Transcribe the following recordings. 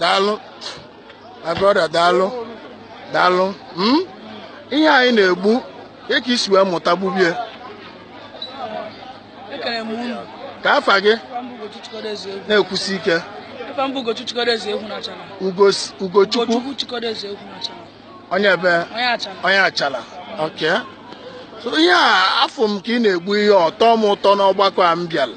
daalụ my brother daalụ daalụ hmm? ihe a ị na-egbu kee ka i si wee mụta gbubie kee afa gị na-ekwusi ike ugochukwu onye ebe onye achala ok so ihe a afụ m ka ị na-egbu ihe ọ tọ m ụtọ n'ọgbakọ a m bịara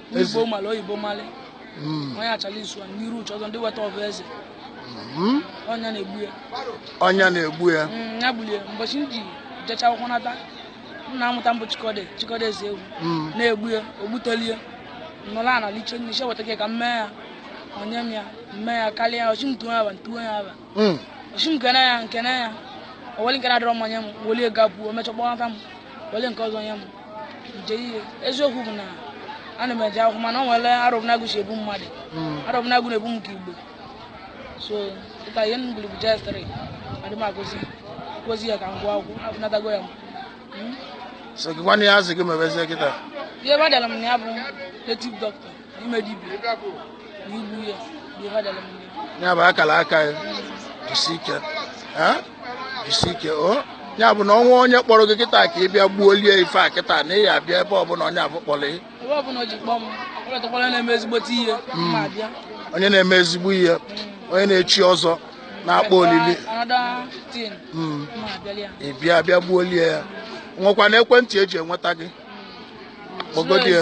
Eze. igbo mara oyibo mara Mm. onye achala isu a n'iru uche ọzọ ndị weta ọbụ eze Mm. ọ nya na-egbu ya ọ nya na-egbu ya Mm, ya gbulie mbọchị m ji jecha akwụkwọ nata nna mụta m bụ chikọde chikọde eze egwu Mm. na-egbu ya o gbutelie nọla ana liche nne sị weta gị ka m mee ya o nye m ya mee ya karịa ya ọ sị m tuo ya afa m tuo ya afa Mm. ọ sị m kene ya m kene ya o weli nke na-adịrọ mma nye m m welie gapụ o mechaa kpọnata m wele nke ọzọ nye m nje ihe eziokwu bụ na ana m eje akwụkwọ mana o nwere arọbụnagụ si ebu mmadụ arọbụnagụ na-ebu m ke gboo so kịta ihe m gụrụ bụ JS three adị m agụzi gụzi ya ka m gụọ akwụkwọ apụnatago ya m so gịnwa ihe a sị gị mebezie kịta ihe badara m na ya bụ native doctor ya bụ akara aka ya jisi ike jisi ike o ya bụ na o nwee onye kpọrọ gị kịta ka ị bịa gbuolie ife a kịta na ị ya-abịa ebe ọbụla onye ọ bụ kpọrọ ị hmm. onye na-eme ezigbo ihe onye na-echi ọzọ na-akpọ olili hmm. ị bịa bịa gbuolie ya nwekwara ekwentị e ji enweta gị kpọgodi ya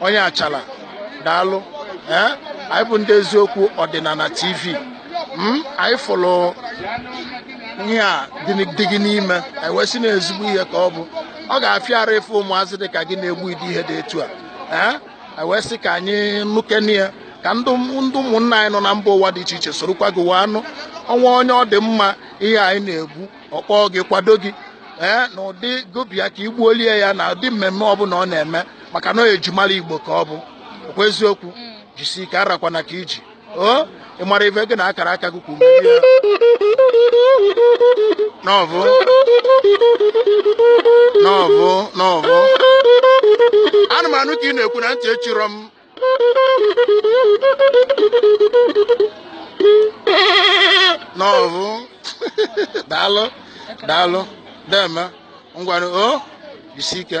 onye achala daalụ ee anyị bụ ndị eziokwu ọdịnala tv anyị fụrụ ihe a dị n- dị gị n'ime anyị wee sị na ezigbo ihe ka ọ bụ ọ ga-afịa arụ ịfụ ụmụazị dị ka gị na-egbu ụdị ihe dị etu a ee anyị wee sị ka anyị nụkene ya ka ndị ụm- ndị ụmụnna anyị nọ na mba ụwa dị iche iche sorokwa gị wee anụ o nwee onye ọ dị mma ihe a ị na-egbu ọ kpọọ gị kwado gị ee na ụdị gị bịa ka i gbuolie ya na ụdị mmemme ọbụla ọ na-eme maka na ejimara igbo ka ọ bụ ọ kwa eziokwu mm. jisi ike arakwana aka i ji o ị mara ife gị na akara aka gị kwuru n'ọvụ n'ọvụ n'ọvụ ana m anụ ka ị na-ekwu na ntị echirọ m n'ọvụ daalụ daalụ deeme ngwanụ o jisi ike